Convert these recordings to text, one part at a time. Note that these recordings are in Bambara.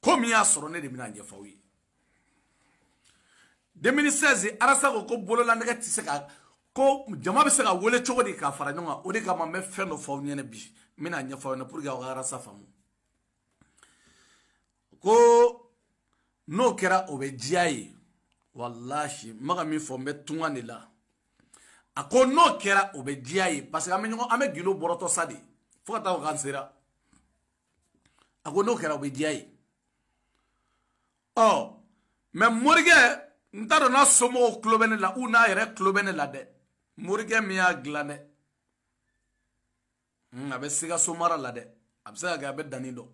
ko min y'a sɔrɔ ne de bɛna ɲɛfɔ aw ye 2016 arasa ko ko bololanɛgɛ tɛ se ka ko jama bɛ se ka wele cogo di k'a fara ɲɔgɔn kan o de kama n bɛ fɛn dɔ fɔ aw ɲɛna bi n bɛna ɲɛfɔ aw ɲɛna pour que aw ka arasa faamu ko n'o kɛra o bɛ diya ye walahi n bɛ ka min fɔ n bɛ tunga de la a ko n'o kɛra o bɛ diya ye parce que an bɛ ɲɔgɔn an bɛ gundo bɔrɔtɔ sa dɛ fo ka taa fɔ k'an sera a ko n'o kɛra o bɛ diya ye ɔ mais morikɛ n t'a dɔn n'a somɔgɔw tulo bɛ ne la ou n'a yɛrɛ tulo bɛ ne la dɛ morikɛ min y'a dilan dɛ a bɛ sikaso mara la dɛ a bɛ se ka kɛ a bɛ dani dɔn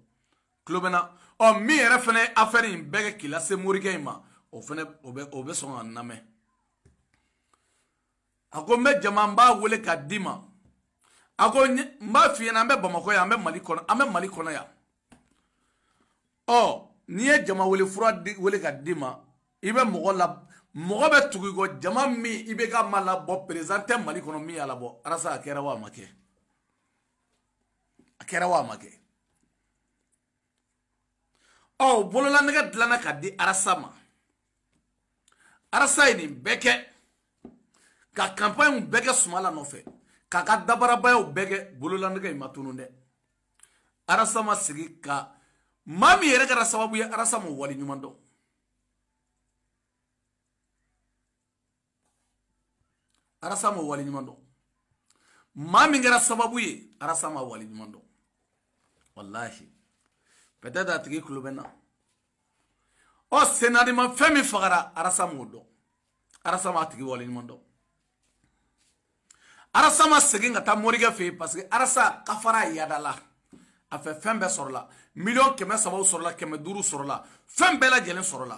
tulo bɛ n na ɔ min yɛrɛ fana ye afɛri in bɛɛ kɛ k'i lase morikɛ in ma o fana o bɛ o bɛ sɔn ka n lamɛn a ko n bɛ jama n b'a wele k'a d'i ma a ko n b'a f'i ɲɛna an bɛ bamakɔ yan an bɛ mali kɔnɔ an bɛ mali kɔnɔ yan ɔ n'i ye jama wele fura wele k'a d'i ma i bɛ mɔgɔ la mɔgɔ bɛ tugu i kɔ jama min i bɛ ka ma labɔ perezidan tɛ mali kɔnɔ min y'a labɔ arasa a kɛra wa a ma kɛ a kɛra wa a ma kɛ ɔ bololanɛgɛ dilanna k'a di arasa ma arasa ye nin bɛɛ kɛ ka kanpaɲiw bɛɛ kɛ sumala nɔfɛ k'a ka dabarabayaw bɛɛ kɛ bololanɛgɛ in ma tunun dɛ arasa ma sigi ka maa min yɛrɛ kɛra sababu ye arasa ma wale ɲuman dɔn arasa ma wale ɲuman dɔn maa min kɛra sababu ye arasa ma wale ɲuman dɔn walahi peut-être a tigi tulo bɛ n na ɔ senadi ma fɛn min fagara arasa m'o dɔn arasa ma a tigi wale ɲuman dɔn arasa ma segin ka taa morikɛ fɛ yen parce que arasa kafara yadala a fɛ fɛn bɛɛ sɔrɔla miliyɔn kɛmɛ sabaw sɔrɔla kɛmɛ duuru sɔrɔla fɛn bɛɛ lajɛlen sɔrɔla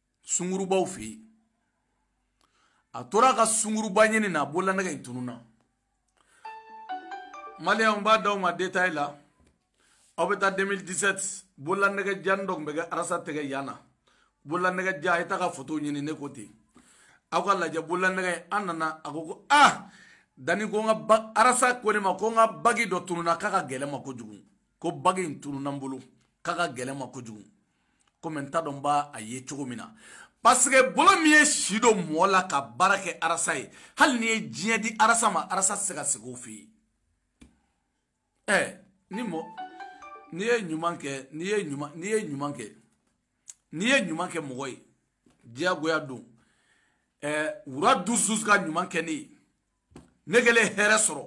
sungurubaw fɛ yen a tora ka sunguruba ɲini na a bolola nɛgɛ in tununna maliyɛnw n b'a d'aw ma detaye la aw bɛ taa 2017 bolola nɛgɛ jannin dɔ tun bɛ kɛ arasa tɛgɛ yan na bolola nɛgɛ jan a ye taa ka foto ɲini ne ko ten aw k'a lajɛ bolola nɛgɛ in an nana a ko ko ah dani ko n ka ba arasa ko ne ma ko n ka bagi dɔ tununna k'a ka gɛlɛn n ma kojugu ko bagi in tununna n bolo k'a ka gɛlɛn n ma kojugu komi n t'a dɔn n b'a a ye cogo min na paseke bolo min ye si don mɔgɔ la ka baara kɛ arasa ye hali n'i ye diɲɛ di arasa ma arasa tɛ se ka segin o fɛ yen ɛɛ ni mɔ n'i ye ɲuman kɛ n'i ye ɲuman n'i ye ɲuman kɛ n'i ye ɲuman kɛ mɔgɔ ye diyagoya don ɛɛ wura dusu ka ɲuman kɛ ne ye ne kɛlen hɛrɛ sɔrɔ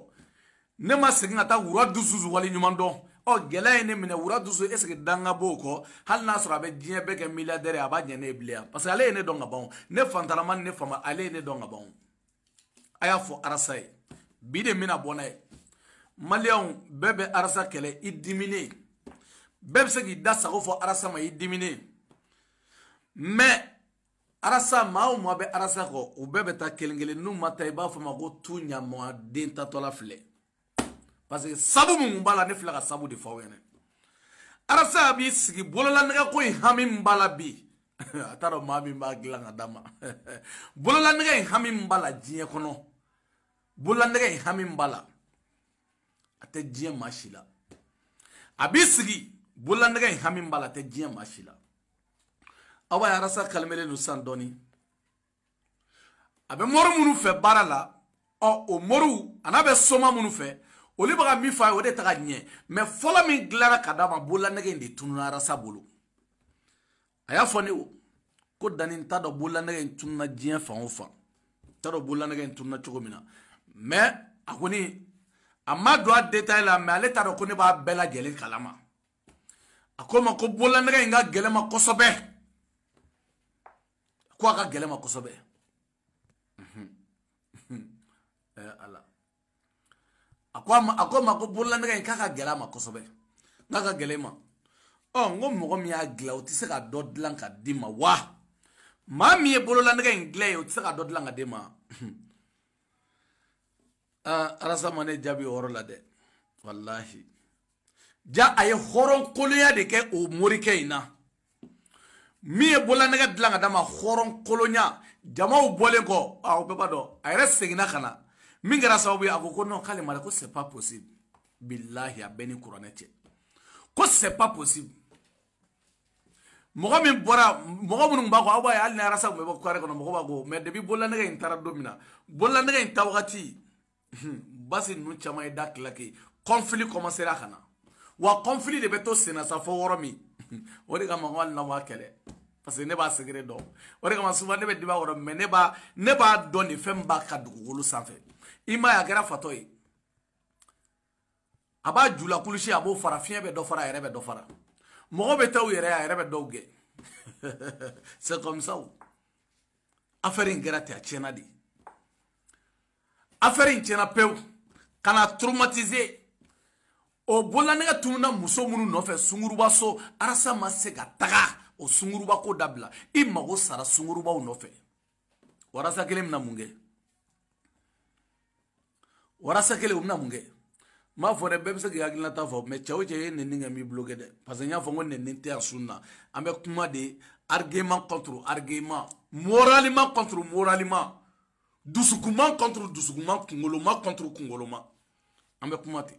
ne ma segin ka taa wura dusu wale ɲuman dɔn ɔ gɛlɛya ye ne minɛ wura dusu est ce que danga b'o kɔ hali n'a sɔrɔ a bɛ diɲɛ bɛɛ kɛ milliardaire a b'a ɲɛ ne ye bilen yan parce que ale ye ne dɔn ka ban ne fantannama ni ne faama ale ye ne dɔn ka ban a y'a fɔ arasa ye bi de mina bɔ n'a ye maliyɛnw bɛɛ bɛ arasa kɛlɛ i diminen bɛɛ bɛ se k'i da sago fɔ arasa ma i diminen mais arasa maa o maa bɛ arasa kɔ u bɛɛ bɛ taa kelen kelen n'u ma taa i b'a fɔ n ma ko tu ɲamɔgɔden tatɔla filɛ parce que sabu min kun b'a la ne filɛ ka sabu de fɔ aw ɲɛna arasa b'i sigi bololanɛgɛ ko in hami min b'a la bi a t'a dɔn maa min b'a dilan ka d'a ma bololanɛgɛ in hami min b'a la diɲɛ kɔnɔ bololanɛgɛ in hami min b'a la a tɛ diɲɛ maa si la a b'i sigi bololanɛgɛ in hami min b'a la a tɛ diɲɛ maa si la aw b'a ye arasa kalimelen don sisan dɔɔnin a bɛ mɔri minnu fɛ baara la ɔ o mɔriw a n'a bɛ soma minnu fɛ olu bɛ ka min fɔ a ye o de ta ka ɲɛ mais fɔlɔ min dilanna ka d'a ma bololanɛgɛ in de tununa arasa bolo a y'a fɔ ne ye ko dani n t'a dɔn bololanɛgɛ in tununa diɲɛ fan o fan n t'a dɔn bololanɛgɛ in tununa cogo min na mais a kɔni a ma don a détail la mais ale t'a dɔn ko ne b'a bɛɛ lajɛlen kalama a ko n ma ko bololanɛgɛ in ka gɛlɛn ma kosɛbɛ ko a ka gɛlɛn ma kosɛbɛ eh, ala a ko n ma ko bololanɛgɛ in k'a ka gɛlɛn a ma kosɛbɛ n'a ka gɛlɛn ma ɔ n ko mɔgɔ min y'a dilan o tɛ se ka dɔ dilan ka d'i ma wa maa min ye bololanɛgɛ in dilan ye o tɛ se ka dɔ dilan ka d'i ma aa arasa ma ne jaabi o yɔrɔ la dɛ walahi ja a ye hɔrɔnkolonya de kɛ o morikɛ in na min ye bololanɛgɛ dilan ka d'a ma hɔrɔnkolonya jamaw bɔlen kɔ aw bɛɛ b'a dɔn a yɛrɛ seginna ka na min kɛra sababu ye a ko ko non k'ale ma dɛ ko c'est pas possible bilahi a bɛ n ni kuranɛ cɛ ko c'est pas possible mɔgɔ min bɔra mɔgɔ minnu b'a kɔ aw b'a ye hali ni arasa tun bɛ bɔ kare kɔnɔ mɔgɔ b'a kɔ mais depuis bololanɛgɛ in taara don min na bololanɛgɛ in taa wagati basi ninnu caman ye da tilaki conflit kɔmansera ka na wa conflit de bɛ to senna sa fo yɔrɔ min o de kama ko hali na b'a kɛlɛ parce que ne b'a secret dɔn o de kama souvent ne bɛ dimi a kɔrɔ mais ne b'a ne b'a dɔn nin fɛn min b'a kan dugukolo sanfɛ i m'a ye a kɛra fatɔ ye a b'a jula kulusi a b'o fara fiɲɛ bɛ dɔ fara a yɛrɛ bɛ dɔ fara mɔgɔ bɛ taa u yɛrɛ a yɛrɛ bɛ dɔw gɛn c'est comme ça affaire in kɛra ten a tiɲɛna dɛ affaire in tiɲɛna pewu ka n'a traumatiser o bololanɛgɛ tununa muso minnu nɔfɛ sunguruba so arasa ma se ka taga o sunguruba ko dabila i mago sara sungurubaw nɔfɛ warasa kelen bɛna mun kɛ warasa kelen o bɛna mun kɛ n m'a fɔ dɛ bɛɛ bɛ se k'i hakilinata fɔ mais cɛ o cɛ ye nɛni kɛ n b'i bloqué dɛ parce que n y'a fɔ n ko nɛni tɛ yan sun na an bɛ kuma de argument contre argument moralement contre moralement dusukunman contre dusukunman kungoloma contre kungoloma an bɛ kuma ten